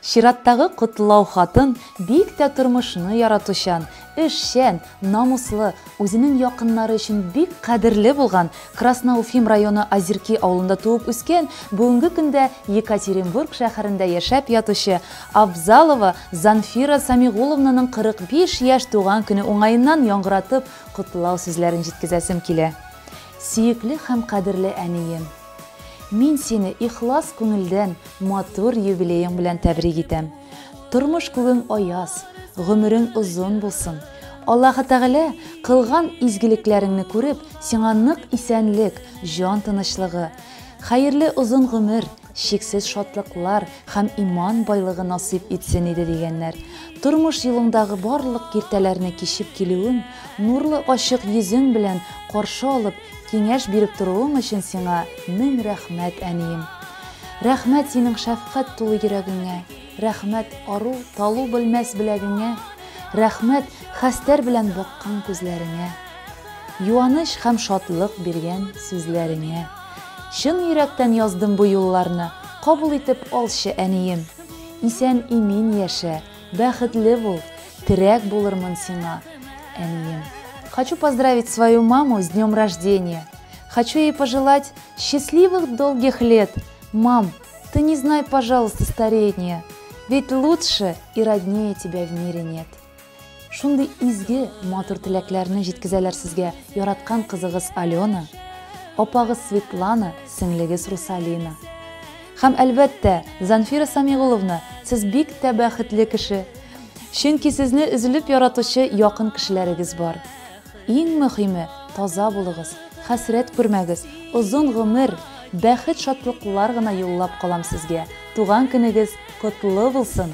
Чираттагы котлау хатын бик тә тормышны яратучан, эшчән, намуслы, үзенең якыннары өчен бик кадерле булган, Красноуфим районы Озерки авылында туып үскән, бүгенге көндә Екатеринбург шәһәрендә яшәп ятучы Абзалова Занфира Самигуловнаның 45 яшь туган көне уңаеннан яңгыратып котлау сүзләрен җиткезәсем килә. Сөекле һәм кадерле әнием! Мин сине ихлас күңелдән матур юбилеең белән тәбрик итәм. Тормыш күгең аяз, гомерең озын булсын. Аллаһы Тәгалә, кылган изгелекләреңне күреп, сиңа нык исәнлек, җан тынычлыгы, хәерле озын гомер, чиксез шатлыклар һәм иман байлыгы насыйп итсен иде, дигәннәр. Тормыш юлыңдагы барлык киртәләрне кичеп килүең, нурлы ачык йөзең белән каршы алып, киңәш биреп торуың өчен сиңа мең рәхмәт, әнием! Рәхмәт синең шәфкать тулы йөрәгеңә, рәхмәт ару, талу белмәс беләгеңә, рәхмәт хәстәр белән баккан күзләреңә, юаныч һәм шатлык биргән сүзләреңә! Чын йөрәктән яздым бу юлларны, Кабул итеп алчы, әнием. Исән-имин яшә, бәхетле бул, Терәк булырмын сиңа, әнием. Хочу поздравить свою маму с днем рождения! Хочу ей пожелать счастливых долгих лет! Мам, ты не знай, пожалуйста, старения, Ведь лучше и роднее тебя в мире нет! Шундый изге, матур теләкләрне җиткезәләр сезгә яраткан кызыгыз Алена, апагыз Светлана, сеңлегез Русалина. Һәм, әлбәттә, Занфира Самигуловна, сез бик тә бәхетле кеше, чөнки сезне өзелеп яратучы якын кешеләрегез бар. Иң мөхиме, таза булыгыз, хәсрәт күрмәгез, озын гомер, бәхет шатлыклар гына юллап калам сезгә, туган көнегез котлы булсын!